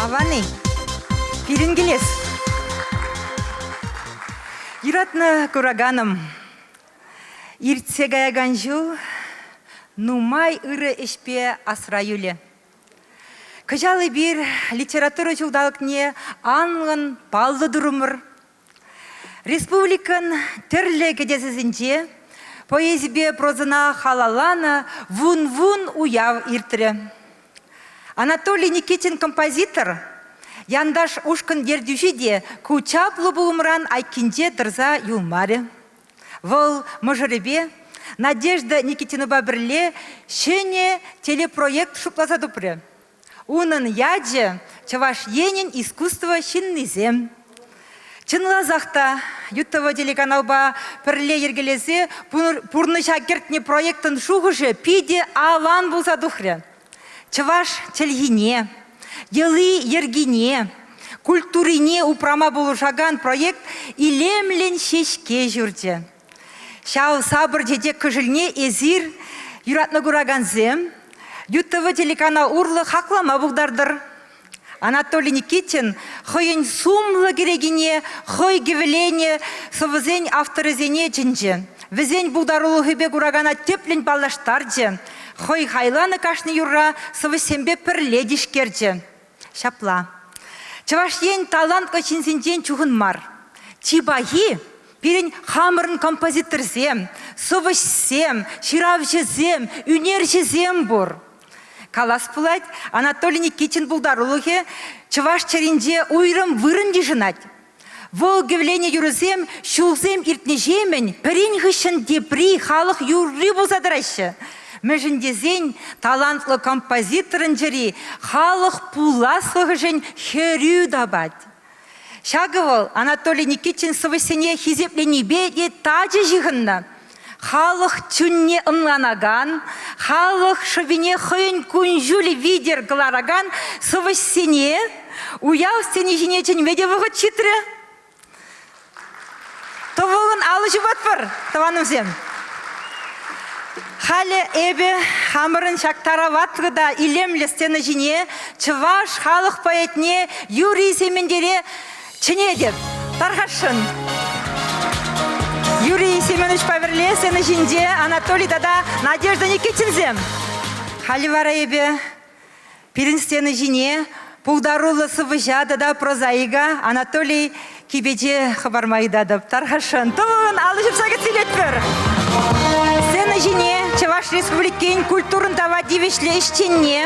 Авани, пирӗн килес. Юратнӑ кураганым, иртсе каякан ҫул нумай ырӑ ӗҫпе асра юлӗ. Кӑҫал эпир литература ҫулталӑкне анлӑн паллӑ турӑмӑр. Республикӑн тӗрлӗ кӗтесӗсенче поэзипе прозӑна халалланӑ вун-вун уяв иртрӗ. Анатолий Никитин композитор, янташ ушкӑн ертӳҫи те ку чаплӑ пулӑмран айккинче тӑрса юлмарӗ. Вӑл мӑшӑрӗпе Надежда Никитинӑпа пӗрле ҫӗнӗ телепроект шутласа тупрӗ. Унӑн ячӗ Чӑваш Енӗн искусство ҫыннисем. Чӑнласах та ЮТВ телеканалпа пӗрле йӗркелесе пурнӑҫа кӗртнӗ проектӑн шухӑшӗ питӗ аван пулса тухрӗ. Чӑваш чӗлхине, йӑли-йӗркине, культурине упрама пулӑшакан проект илемлӗн ҫеҫке ҫурчӗ. Ҫав сапӑр чечек кошельне эсир, юратнӑ куракансем, ют ТВ телеканал урлӑ хаклама пултартӑр. Анатолий Никитин хӑйӗн сумлӑ кӗрекине, хӑй кӗвӗленӗ сӑвӑсен авторӗсене чӗнчӗ. Вӗсен пултарулӑхӗпе куракана тӗплӗн паллаштарчӗ, хӑй хайланӑ кашни юрра сӑвӑҫсемпе пӗрле тишкерчӗ. Ҫапла. Чӑваш Ен талантлӑ ҫынсенчен чухӑн мар. Чи пахи пирӗн хамӑрӑн композиторсем, сӑвӑҫсем, ҫыравҫӑсем, ӳнерҫӗсем пур. Калас пулать, Анатолий Никитин пултарулӑхӗ чӑваш чӗринче уйрӑм вырӑн йышӑнать. Вӑл кӗвленӗ юрӑсем ҫулсем иртнӗҫемӗн пӗрин хыҫҫӑн тепри халӑх юрри пулса тӑраҫҫӗ. Мӗншӗн тесен талантлӑ композиторӑн чӗри халӑх пуласлӑхӗшӗн хӗрӳ тапать. Ҫакӑ вӑл Анатолий Никитин сӑвӑҫсене хисепленипе те тачӑ ҫыхӑннӑ. Халӑх чунне ӑнланакан, халӑх шӑпине хӑйӗн кун-ҫулӗ витӗр кӑларакан сӑвӑҫсене уяв сцени ҫине чӗнме те вӑхӑт ҫитрӗ. Тӑвӑлӑн алӑ ҫупатпӑр, тӑванӑмсем. Халӗ эпӗ хамӑрӑн ҫак тараватлӑ та илемлӗ сцена ҫине чӑваш халӑх поэтне Юрий Сементере чӗнетӗп. Тархасшӑн. Юрий Семеновичпа пӗрле сцена ҫинче Анатолий тата Надежда Никитинсем. Халӗ вара эпӗ Пирӗн стена ҫине пултаруллӑ сӑвӑҫа тата прозаика Анатолий Кипече хӑпарма ыйтатӑп. Тархасшӑн, тӑвӑлӑн алӑ ҫупса кӗтсе илетпӗр. Сцена ҫине Чӑваш Республикин культурӑн тава тивӗҫлӗ ӗҫченне,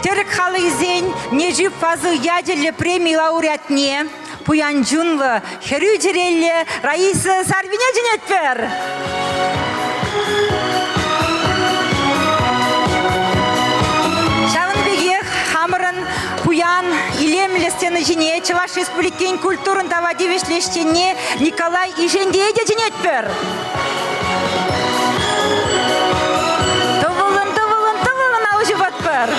тӗрӗк халӑхӗсен Нежи Фазыл ячӗллӗ преми лауреатне, Пуян чунлӑ, хӗрӳ чӗрелле Раиса Сарвине чӗнетпӗр! Ҫавӑн пекех хамӑрӑн пуян илемлӗ сцена ҫине Чӑваш Республикин культурӑн тава тивӗҫлӗ ӗҫченне Николай Ишентее те чӗнетпӗр! Тӑвӑлӑн, тӑвӑлӑн, тӑвӑлӑн ал ҫупатпӑр.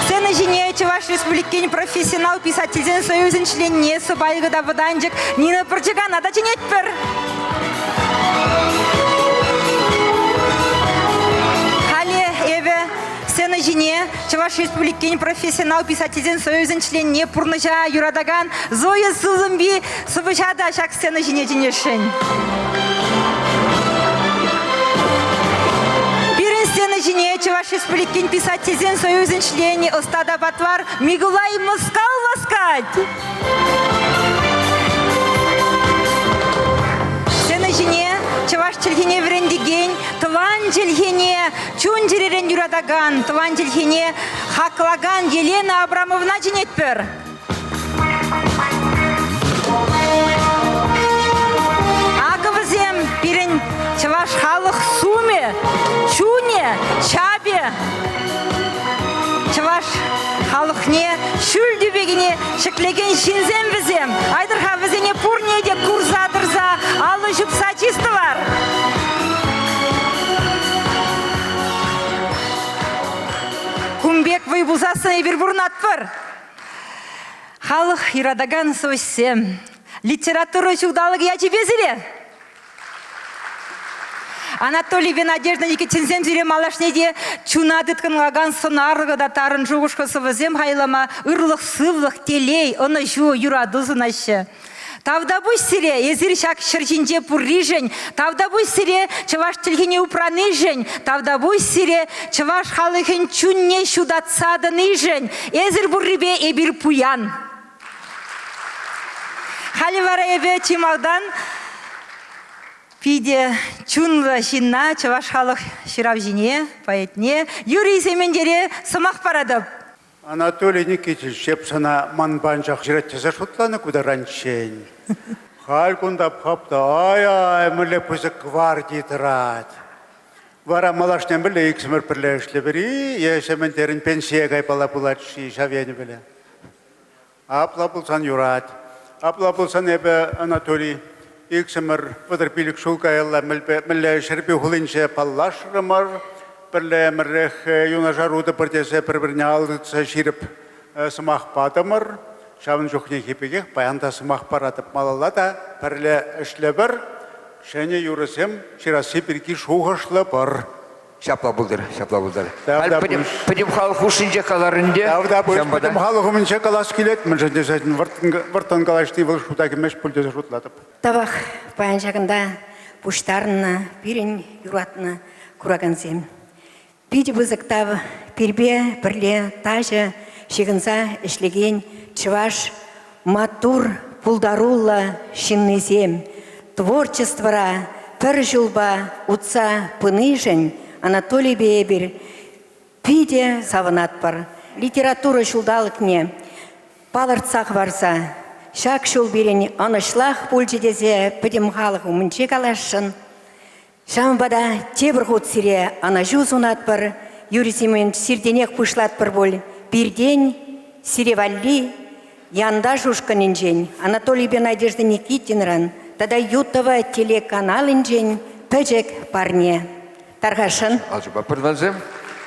Сцена ҫине Чӑваш Республикин профессионал писательсен союзӗн членне, сӑпайлӑ та вӑтанчӑк Нина Пӑрчӑкана та чӗнетпӗр. Халӗ эпӗ сцена ҫине Чӑваш Республикин профессионал писательсен союзӗн членне, пурнӑҫа юратакан Зоя Сузумби Сӑвӑҫа та ҫак сцена ҫине чӗнесшӗн. Пирӗн сцена ҫине Чӑваш Республикин писательсен союзӗн членӗ ӑста та патвар Микулай Москал васкать. Сцена ҫине чӑваш чӗлхине вӗрентекен, тӑван чӗлхене чун-чӗререн юратакан, тӑван чӗлхене хаклакан Елена Абрамовна чӗнетпӗр. Акӑ вӗсем пирӗн чӑваш халӑх сумӗ, чунӗ, чапӗ. Чӑваш халӑхне ҫӳл тӳпекене ҫӗклекен ҫынсем вӗсем. Айтӑр-ха вӗсене пурне те курса тӑрса аллӑ ҫупса чистӑвар. Кун пек вӑй пусассӑн эпир пурӑнатпӑр. Халӑх юратакан сӑвӑҫсем, литература ҫулталӑкӗ ячӗпе сире! Анатолий пен Надежда Никитинсен сире малашне те чуна тыткӑнлакан сӑнарлӑ та тарӑн шухӑшлӑ сӑвӑсем хайлама ырлӑх-сывлӑх, телей, ӑнӑҫу, юрату сунаҫҫӗ. Тавтапуҫ сире, эсир ҫак ҫӗр ҫинче пурришӗн, тавтапуҫ сире чӑваш чӗлхине упранишӗн, тавтапуҫ сире чӑваш халӑхӗн чунне ҫутатса тӑнишӗн. Эсир пуррипе эпир пуян. Халӗ вара эпӗ чи малтан питӗ чунлӑ ҫынна, чӑваш халӑх ҫыравҫине, поэтне Юрий Сементере сӑмах паратӑп. Анатолий Никитич эп сана ман панчах ҫырать тесе шутланӑ ку таранччен. Халь кунта хап та ай-ай мӗнле пысӑк гварди тӑрать. Вара малашне мӗнле иксӗмӗр пӗрле ӗҫлӗпӗр-и? Е ҫемен терӗн пенсие кайпала пулать-ши ҫав енӗ пӗле? Апла пулсан юрать. Апла пулсан эпӗ, Анатолий, иксӗмӗр вӑтӑр пилӗк ҫул каялла мӗнле Ҫӗрпӳ хулинче паллашрӑмӑр. Пӗрле ӗмӗрех юнашар утӑпӑр тесе пӗр-пӗрне ал тытса ҫирӗп сӑмах патӑмӑр. Ҫавӑн чухнехи пекех паян та сӑмах паратӑп. Малалла та пӗрле ӗҫлӗпӗр. Ҫӗнӗ юрӑсем ҫырасси пирки шухӑшлӑпӑр. Ҫапла пултӑр, ҫапла пултӑр. Ҫавна Халь пӗтӗм, пӗтӗм халӑх хушшинче калар ӗнтӗ. Ҫавна пуҫ Ҫавӑнпа та- пӗтӗм халӑх умӗнче калас килет, мӗншӗн тесен вӑрттӑн, вӑрттӑн калаҫни вӑл шута кӗмест пуль тесе шутлатӑп. Тавах паян ҫакӑнта пуҫтарӑннӑ пирӗн юратнӑ куракансем. Питӗ пысӑк тав пирпе пӗрле тачӑ ҫыхӑнса ӗҫлекен чӑваш Маттур, пултаруллӑ ҫыннисем творчествӑра пӗр ҫулпа утса пынишӗн Анатолийпе эпир питӗ савӑнатпӑр. Литература ҫулталӑкне палӑртса хӑварса ҫак ҫул пирӗн ӑнӑҫлах пулчӗ тесе пӗтӗм халӑх умӗнче каласшӑн. Ҫавӑнпа та тепӗр хут сире ӑнӑҫу сунатпӑр. Юрий Семенович, сиртенех пуҫлатпӑр пуль. Пиртен сире валли янташ ушкӑнӗнчен, Анатолийпе Надежда Никитинран тата Ютова телеканалӗнчен пӗчӗк парне. Тархасшӑн? Ачупа пӗрлешем.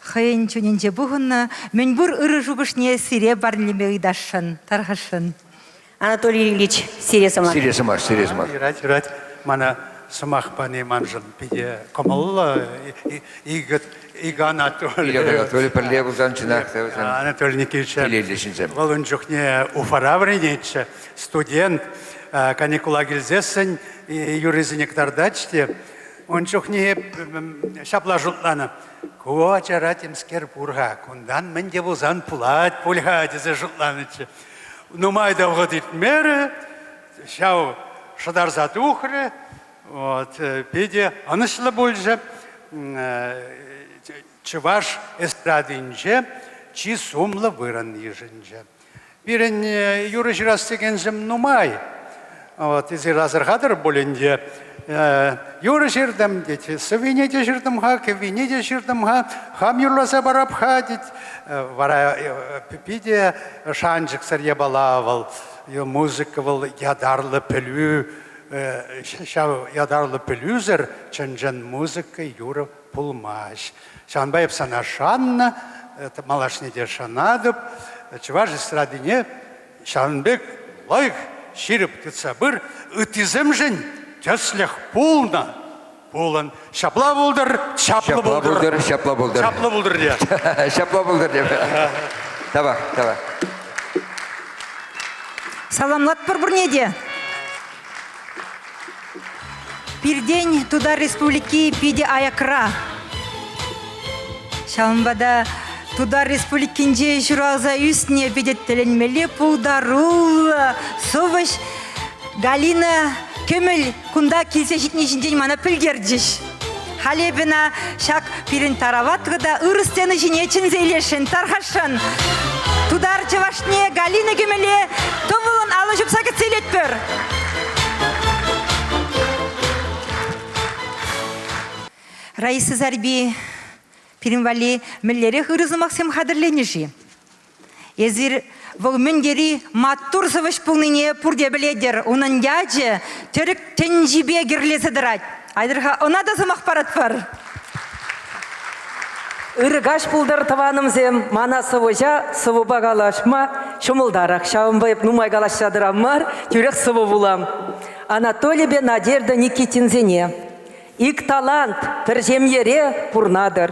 хӑйӗн чунӗнче пухӑннӑ мӗнпур ырӑ шухӑшне сире парнелеме ыйтасшӑн, тархасшӑн. Анатолий Ильич, сире сӑмах. Сире сӑмах, сире сӑмах. Юрать, юрать. Мана сӑмах пани маншӑн питӗ кӑмӑллӑ, икӗ, икӗ Анатолий. Икӗ Анатолий пӗрле пулсан чӑнах та вӗсем Анатолий Никитич килелле ҫынсем. Вӑл ун чухне Уфара вӗренетчӗ, студент. Каникула килсессӗн юррисене кӑтартать те ун чухне ҫапла шутланӑ. Ку ачара темскер пур-ха, кунтан мӗн те пулсан пулать пуль-ха тесе шутланӑччӗ. Нумай та вӑхӑт иртмерӗ, ҫав шӑтарса тухрӗ, вот, питӗ ӑнӑҫлӑ пулчӗ. Чӑваш эстрадинче чи сумлӑ вырӑн йышӑнчӗ. Пирӗн юрӑ ҫырас текенсем нумай. Вот, эсир асӑрхатӑр пулин те, юрӑ ҫыртӑм тет, сӑввине те ҫыртӑм-ха, кӗввине те ҫыртӑм-ха, хам юрласа парап-ха тет. Вара питӗ шанчӑксӑр япала вӑл, музыка вӑл ятарлӑ пӗлӳ, ҫав ятарлӑ пӗлӳсӗр чӑн-чӑн музыка, юрӑ пулмасть. Ҫавӑнпа эп сана шаннӑ, малашне те шанатӑп. Чӑваш эстрадине ҫавӑн пек лайӑх ҫирӗп тытса пыр, ыттисемшӗн тӗслӗх пулнӑ. Пулӑн. Ҫапла пултӑр, чаплӑ пултӑр. Ҫапла пултӑр. Ҫапла пултӑр те. Ҫапла пултӑр те. Тавах, тавах. Саламлатпӑр пурне те. Пиртен Тутар Республики питӗ аякра. Ҫавӑнпа та Тутар Республикинче ҫуралса ӳсне питӗ тӗлӗнмелле пултаруллӑ сӑвӑҫ Галина Кӗмӗл кунта килсе ҫитни ҫинчен мана пӗлтерчӗҫ. Халепина ҫак пирӗн тарават та ырӑ сцена ҫине чӗнсе илесшӗн, тархасшӑн. Тутар чӑвашне Галина кӗмеле тӑвӑлӑн алӑ ҫупса кӗтсе илетпӗр. Раиса Зарби, пирӗн валли мӗнлерех ырӑ сӑмахсем хатӗрленӗ-ши? Эсир вӑл мӗн тери маттур сӑвӑҫ пулнине пурте пӗлетӗр. Унӑн ячӗ тӗрӗк тӗнчипе кӗрлесе тӑрать. Айтӑр-ха, ӑна та сӑмах паратпӑр. Ырӑ каҫ пултӑр, тӑванӑмсем. Мана сӑвӑҫа сӑвӑпа калаҫма ҫӑмӑлтарах. Ҫавӑнпа эп нумай калаҫса тӑрам мар, тӳрех сӑвӑ вулам. Анатолипе Надежда Никитинсене ик талант, пӗр ҫемьере пурнатӑр.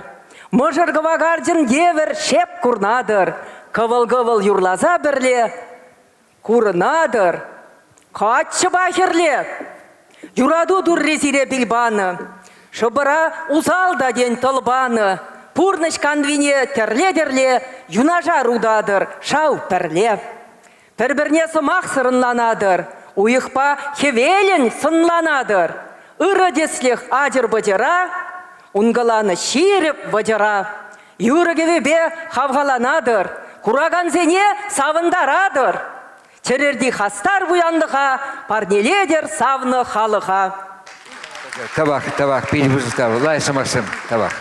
Мӑшӑр кӑвакарчӑн евӗр шеп курнатӑр, кӑвӑл-кӑвӑл юрласа пӗрле курӑнатӑр. Каччӑпа хӗрле юрату турри сире пил панӑ. Шӑпӑра усал та тен тӑл панӑ. Пурнӑҫ канвине тӗрле-тӗрле юнашар утатӑр шав пӗрле. Пӗр-пӗрне сӑмах сӑрӑнланатӑр, уйӑхпа хӗвелӗн сӑнланатӑр. Ырӑ тӗслӗх ачӑр-пӑчӑра, ункӑланӑ ҫирӗп вӑчӑра. Юрӑ-кӗвӗпе хавхаланатӑр, куракансене савӑнтаратӑр. Чӗрерти хастар пуянлӑха парнелетӗр савнӑ халӑха. Табак, табак, питӗ пысӑка, лай сӑмахсем, табак.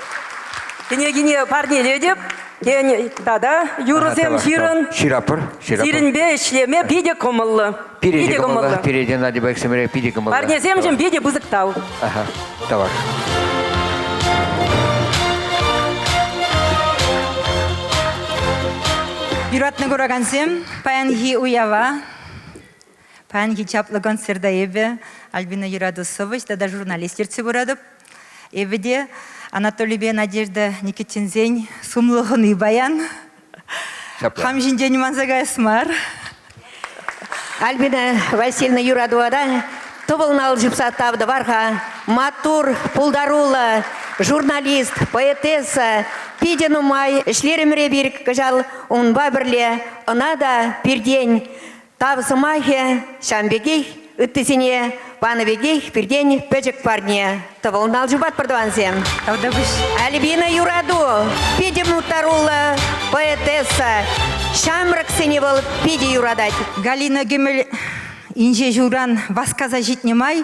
Кӗнекене парнелетӗп. Тен, тата юрӑсем ҫырӑн. Ҫырапӑр, ҫырапӑр. Сирӗнпе ӗҫлеме питӗ кӑмӑллӑ. Питӗ кӑмӑллӑ. Пире Надя Баксимере питӗ кӑмӑллӑ. Парнесемшӗн питӗ пысӑк тав. Ага, тавар. Юратнӑ куракансем, паянхи уява Паянхи чаплӑ концерта эпӗ Альбина Юрату сӑвӑҫ тата журналист ертсе пыратӑп. Эпӗ те Анатолийпе Надежда Никитинсен сумлӑ хӑни паян. Хам ҫинчен манса каяс мар. Альбина Васильевна Юратувара тӑвӑлнал ҫупса тав тӑвар-ха. Маттур, пултаруллӑ журналист, поэтесса. Питӗ нумай ӗҫлерӗмӗр эпир кӑҫал унпа пӗрле. Ӑна та пиртен Тав сӑмахӗ ҫавӑн пекех ыттисене панӑ пекех пиртен пӗчӗк парне. Тӑвӑлн ал чупат пӗртӑвансем. Тавтапуҫ. Альбина Юрату питӗ мухтаруллӑ поэтесса. Ҫамрӑксене вӑл питӗ юратать. Галина Гемель инҫе ҫулран васкаса ҫитнӗ май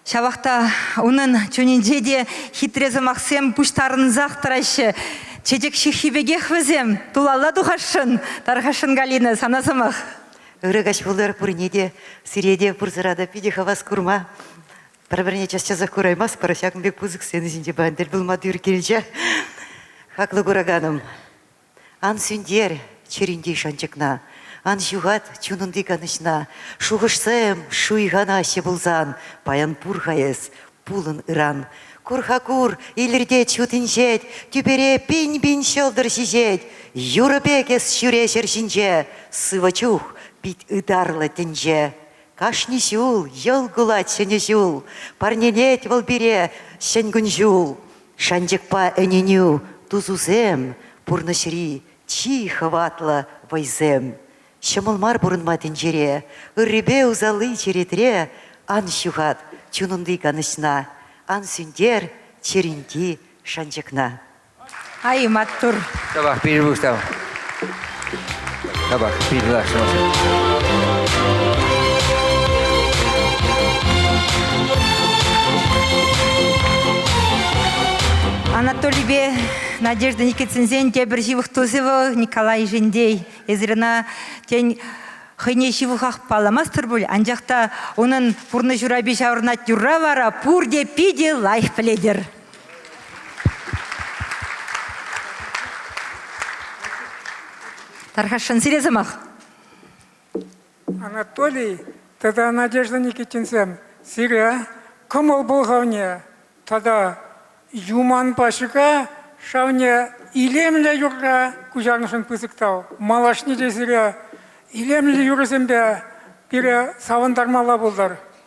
Ҫавах та унӑн чунӗнче те хитре сӑмахсем пуҫтарӑнсах тӑраҫҫӗ. Чечек ҫыххи пекех вӗсем. Тулалла тухасшӑн, тархасшӑн Галина, сана сӑмах. Ырӑ каҫ пулӑр пурне те. Сире те пурсӑра та питӗ хавас курма. Пӗр-пӗрне час-часах кураймастпӑр, ҫакӑн пек пысӑк сцена ҫинче паян тӗл пулма тӳр килчӗ. Хаклӑ кураканӑм, Ан сӳнтер чӗринчи шанчӑкна, Ан ҫухат чунунти канӑҫна. Шухӑшса эм шуйханаҫҫӗ пулсан, Паян пур-ха эс, пулӑн ыран. Кур-ха кур, илӗртет ҫут инҫет, Тӳпере пин-пин ҫӑлтӑр ҫиҫет. Юрӑ пек эс ҫӳре ҫӗр ҫинче, Сывӑ чух пит ытарлӑ тӗнче. Кашни ҫул йӑл кулать ҫӗнӗ ҫул, Парнелет вӑл пире ҫӗн кун-ҫул. Шанчӑкпа ӗненӳ тусусем, пурнӑҫри чи хӑватлӑ вӑйсем. Ҫӑмӑл мар пурӑнма тӗнчере, ыррипе усалли черетре ан ҫухат чунунти канӑҫна, ан сӳнтер чӗринти шанчӑкна. Ай, маттур! Ҫапах пирӗн пуҫтав. Tabak Анатолийпе Надежда Никитсенсен тепӗр ҫывӑх тусӗ вӑл Николай Ишендей. Эсир ӑна тен хӑйне ҫывӑхах палламастӑр пуль, анчах та унӑн пурнӑҫ урапи ҫаврӑнать юрра вара пурте питӗ лайӑх пӗлетӗр. Тархасшӑн, сире сӑмах. Анатолий тата Надежда Никитинсем, сире кӑмӑл пӑлхавне тата юманпа ҫӑка шавне илемлӗ юрра куҫарнӑшӑн пысӑк тав. Малашне те сире илемлӗ юрӑсемпе пире савӑнтармалла пултӑр.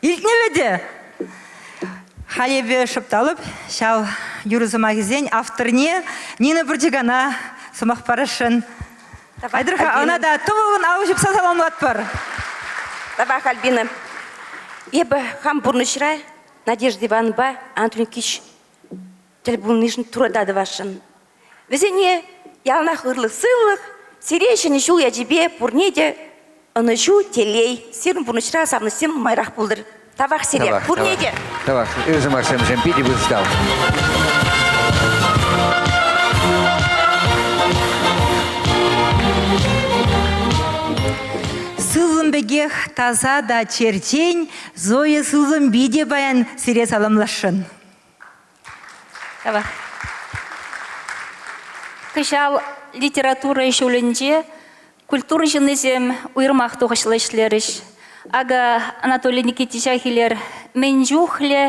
Илтмелле те. Халь эпӗ шӑпталӑп ҫав юрӑ сӑмахӗсен авторне Нина Пыртикана сӑмах парасшӑн. Айтӑр-ха, ӑна та тӑвӑллӑн алӑ ҫупса саламлатпӑр. Табах, Альбина. Эпӗ хам пурнӑҫра Надежда Ивановпа Антон Кич тӗл пулнишӗн турата тӑвасшӑн. Вӗсене яланах ырлӑх сывлӑх, сире ҫӗнӗ ҫул ячӗпе пурне те ӑнӑҫу, телей, сирӗн пурнӑҫра савӑнӑҫсем нумайрах пултӑр. Тавах сире, тавах, пурне тавах. те. Тавах, ырӑ сӑмахсемшӗн питӗ вырӑстал. Сывлӑм пекех таса та черчен Зоя сывлӑм питӗ паян сире саламласшӑн. Кӑҫал литература ҫулӗнче культура ҫыннисем уйрӑмах тухӑҫлӑ ӗҫлерӗҫ. Акӑ Анатолий Никитича Хилер мӗн чухлӗ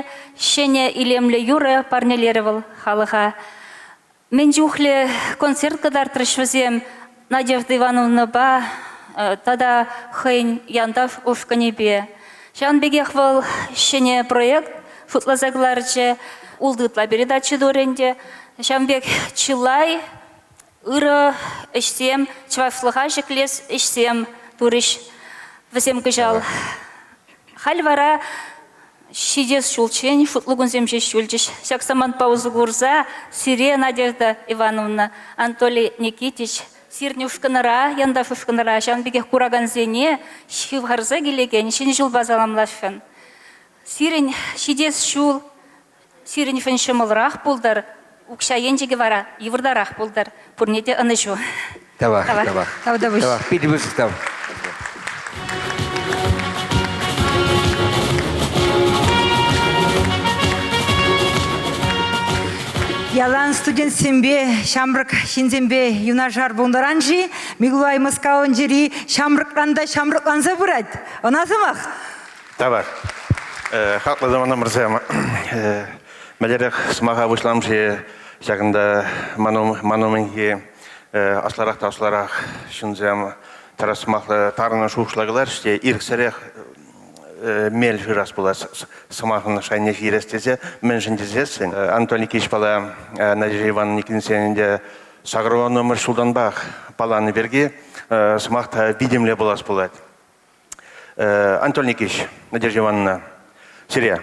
ҫӗнӗ илемлӗ юрӑ парнелерӗ вӑл халӑха. Мӗн чухлӗ концерт кӑтартрӗҫ вӗсем Надежда Ивановнӑпа тата хӑйӗн Янтав ушкӑнӗпе. Ҫавӑн пекех вӑл ҫӗнӗ проект шутласа кӑларчӗ. Ултӑ ытла передача турӗ ӗнтӗ. Ҫавӑн пек чылай ырӑ ӗҫсем, чӑвашлӑха ҫӗклес ӗҫсем турӗҫ вӗсем кӑҫал. Халь вара ҫитес ҫулччен шутлу кунсем ҫеҫ юлчӗҫ. Ҫак самантпа усӑ курса сире, Надежда Ивановна, Анатолий Никитич, сирӗн ушкӑнра, янташ ушкӑнра ҫавӑн пекех куракансене ҫывхарса килекен Ҫӗнӗ ҫулпа саламласшӑн. Сирӗн ҫитес ҫул Сирӗн фӗн ҫӑмӑлрах пултӑр, укҫа енчӗкӗ вара йывӑртарах пултӑр. Пурне те ӑнӑҫу. Тавах, тавах, тавах. Тав тӑвӑҫ. Тавах, питӗ пысӑк тав. Ялан студентсемпе, ҫамрӑк ҫынсемпе юнашар пулнӑран-ши Микулай Мускавӑнчӑри ҫамрӑкран та ҫамрӑкланса пырать. Ӑна сӑмах Тавар. Хаклӑ тӑванӑмӑрсем, мӗнлерех сӑмаха пуҫлам-ши ҫакӑнта ман умӗнхи аслӑрах та аслӑрах ҫынсем тӑрас сӑмахлӑ тарӑн шухӑшла кӑларӗҫ те ирӗксӗрех мел шырас пулать сӑмахӑн шайне ҫирес тесе мӗншӗн тесессӗн Антон Никитич пала Надежда Ивановна Никитинсен ӗнтӗ сакӑрвӑнӑмӗш ҫултанпах палланӑ пирки сӑмах та витӗмле пулас пулать. Анатолий Никитич, Надежда Ивановна, сире.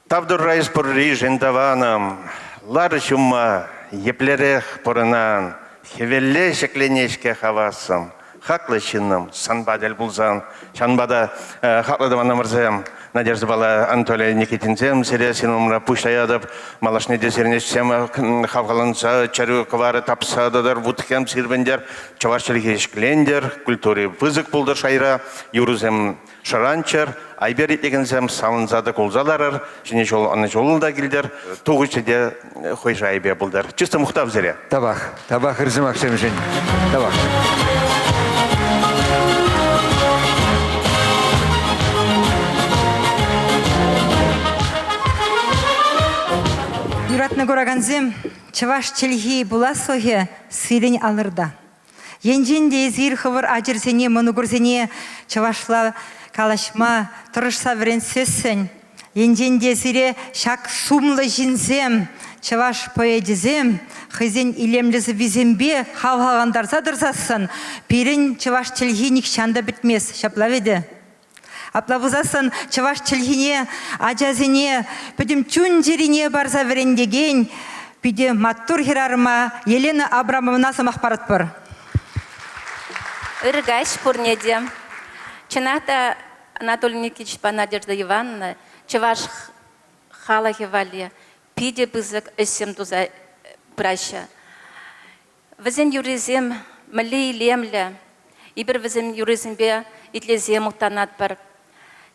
Тавтурра из пурри жиндаваным, лары ҫумма еплерех пурӑнан, хӗвелле ҫӗкленешке хавассым, хаклӑ ҫыннӑм, санпа тӗл пулсан, ҫанпа та хаклӑ тӑван ӑмӑрсем, Надеждӑпала Анатолий Никитинсем сире син умра пуҫлаятӑп. Малашне те сирне сем хавхаланса чӗрӳ кӑварӗ тапса тӑтӑр, вутхем сирпӗнтер, чӑваш чӗлхи ҫӗклентер, культури пысӑк пултӑр шайра, юрӑсем шӑранччӑр, айпер итлекенсем савӑнса та кулса ларӑр, ҫӗнӗ ҫул ӑнӑҫуллӑ та килтӗр, тухӑҫӗ те хӑй шайӗпе пултар. Чувство мухтав сире. Тавах, тавах ыр сӑмахсемшӗн. Тавах. Юратнӑ куракансем, чӑваш чӗлхи пуласлӑхӗ сирӗн алӑрта. Енчен те эсир хӑвӑр ачӑрсене, мӑнукӑрсене чӑвашла калаҫма тӑрӑшса вӗрентсессӗн, енчен те сире ҫак сумлӑ ҫынсем, чӑваш поэчӗсем хӑйсен илемлӗ сӑввисемпе хавхалантарса тӑрсассӑн, пирӗн чӑваш чӗлхи нихҫан та пӗтмест, ҫапла вӗт-и? Апла пулсассӑн чӑваш чӗлхине, ачасене пӗтӗм чун-чӗрине парса вӗрентекен питӗ маттур хӗрарӑма Елена Абрамовна сӑмах паратпӑр. Ырӑ каҫ пурне те. Чӑнах та, Анатолий Никитичпа Надежда Ивановна чӑваш халӑхӗ валли питӗ пысӑк ӗҫсем туса пыраҫҫӗ. Вӗсен юррисем мӗнле илемлӗ! Эпир вӗсен юррисемпе итлесе мухтанатпӑр.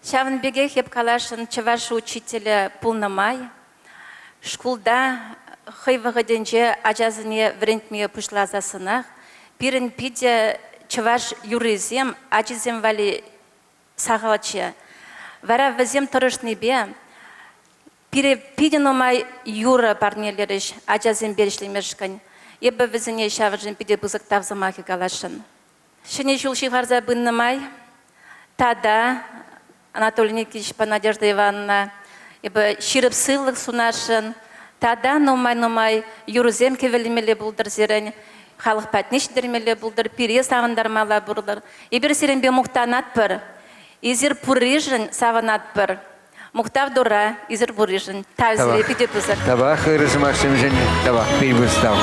Ҫавӑн пекех эп каласшӑн, чӑваш учителӗ пулнӑ май шкулта хӑй вӑхӑтӗнче ачасене вӗрентме пуҫласассӑнах пирӗн питӗ чӑваш юррисем ачисем валли сахалччӗ. Вара вӗсем тӑрӑшнипе Пире питӗ нумай юрӑ парнелерӗҫ ачасемпе ӗҫлемешкӗн. Эпӗ вӗсене ҫавӑншӑн питӗ пысӑк тав сӑмахӗ каласшӑн. Ҫӗнӗ ҫул ҫывхарса пынӑ май тата Анатолий Никитичпа Надежда Ивановна эпӗ ҫирӗп сывлӑх сунасшӑн тата нумай-нумай юрӑсем кӗвӗлемелле пултӑр сирӗн. Халӑх патне ҫитермелле пултӑр, пире савӑнтармалла пултӑр. Эпир сирӗнпе мухтанатпӑр, эсир пурришӗн савӑнатпӑр. Мухтав Турра исӗр пурришӗн. Тавсире питӗ пысӑк. Тавах ырӑ сӑмахсемшӗн. Тавах пирвыстав.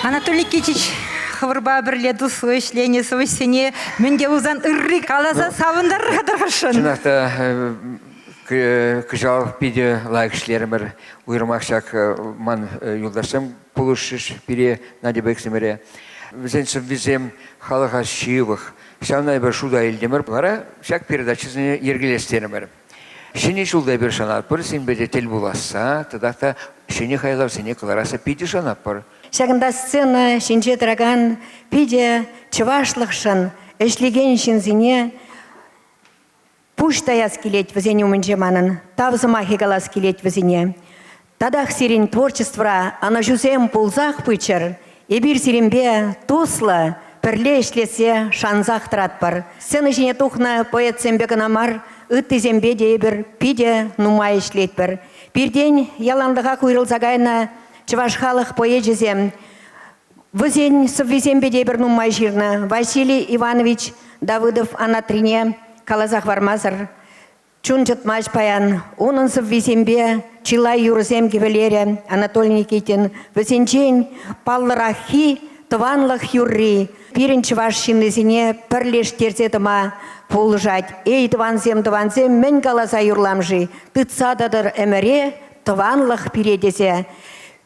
Анатолий Кичич хӑвӑрпа пӗрле туслӑ ӗҫленӗ сӑвӑҫсене мӗн те пулсан ырри каласа савӑнтарса тӑрӑшӑн. Чӑнах та Кӑҫал питӗ лайӑх ӗҫлерӗмӗр. Уйрӑмах ҫак ман юлташсем пулӑшрӗҫ пире, Надьӑпа иксӗмӗре. Вӗсен сӑввисем халӑха ҫывӑх. Ҫавна эпир шута илтӗмӗр. Вара ҫак передачӑсене йӗркелес терӗмӗр. Ҫӗнӗ ҫулта эпир шанатпӑр синпе те тӗл пуласса тата та ҫӗнӗ хайлавсене кӑларасса питӗ шанатпӑр. Ҫакӑнта сцена ҫинче тӑракан питӗ чӑвашлӑхшӑн ӗҫлекен ҫынсене Пуҫ таяс килет вӗсен умӗнче манӑн, тав сӑмахӗ калас килет вӗсене. Татах сирӗн творчествӑра ӑнӑҫусем пулсах пыччӑр. Эпир сирӗнпе туслӑ, пӗрле ӗҫлессе шансах тӑратпӑр. Сцена ҫине тухнӑ поэтсемпе кӑна мар, ыттисемпе те эпир питӗ нумай ӗҫлетпӗр. Пиртен яланлӑхах уйрӑлса кайнӑ чӑваш халӑх поэчӗсем Вӗсен сӑввисемпе те пӗр нумай ҫырнӑ Василий Иванович Давыдов Анатрине каласа хӑвармасӑр чун чӑтмасть паян. Унӑн сӑввисемпе чылай юрӑсем кӗвӗлерӗ Анатолий Никитин. Вӗсенчен паллӑраххи тӑванлӑх юрри пирӗн чӑваш ҫыннисене пӗрлештерсе тӑма пулӑшать. Эй, тӑвансем, тӑвансем, мӗн каласа юрлам-ши? Тытса тӑтӑр ӗмӗре тӑванлӑх пире тесе.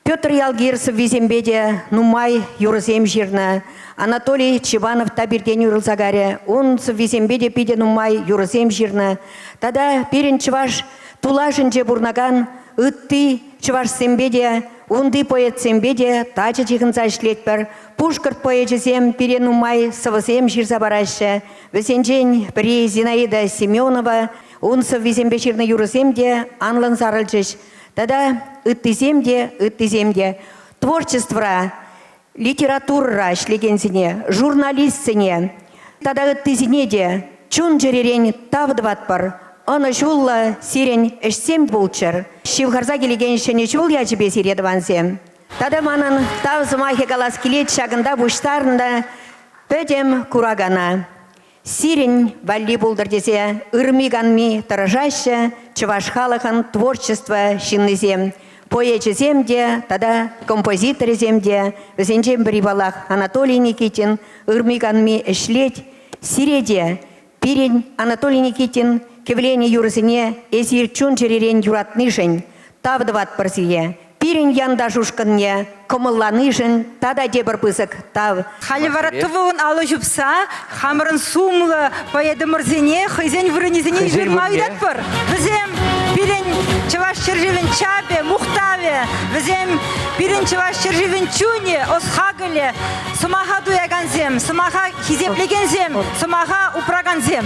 Петр Ялгир сӑввисемпе те нумай юрӑсем ҫырнӑ. Анатолий Чиванов та пиртен уйрӑлса карӗ. Ун сӑввисемпе те питӗ нумай юрӑсем ҫырнӑ. Тата пирӗн чӑваш тулашӗнче пурӑнакан ытти чӑвашсемпе те, унти поэтсемпе те тачӑ ҫыхӑнса ӗҫлетпӗр. Пушкӑрт поэчӗсем пире нумай сӑвӑсем ҫырса параҫҫӗ. Вӗсенчен пӗри Зинаида Семенова. Ун сӑввисемпе ҫырнӑ юрӑсем те анлӑн сарӑлчӗҫ. Тата ыттисем те, ыттисем те творчествӑра, литературӑра ӗҫлекенсене, журналистсене тата ыттисене те чун-чӗререн тав тӑватпӑр. Ӑнӑҫуллӑ сирӗн ӗҫсем пулччӑр. Ҫывхарса килекен ҫӗнӗ ҫул ячӗпе сире, тӑвансем. Тата манӑн тав сӑмахӗ калас килет ҫакӑнта пуҫтарнӑ пӗтӗм куракана. сирӗн валли пултӑр тесе ырми-канми тӑрӑшаҫҫӗ чӑваш халӑхӑн творчество ҫыннисем. Поэчӗсем те тата композиторӗсем те, вӗсенчен пӗри паллах Анатолий Никитин ырми-канми ӗҫлет. Сире те, пирӗн Анатолий Никитин кӗвленӗ юрӑсене эсир чун-чӗререн юратнишӗн тав тӑватпӑр сире, пирӗн янташ ушкӑнне кӑмӑлланишӗн тата тепӗр пысӑк тав. Халӗ вара тӑвӑлӑн алӑ ҫупса хамӑрӑн сумлӑ поэтӑмӑрсене хӑйсен вырӑнӗсене ҫырма ыйтатпӑр. Вӗсем пирӗн чӑваш ҫӗршывӗн чапӗ, мухтавӗ, вӗсем пирӗн чӑваш ҫӗршывӗн чунӗ, ӑс-хакӑлӗ, сӑмаха туякансем, сӑмаха хисеплекенсем, сӑмаха упракансем.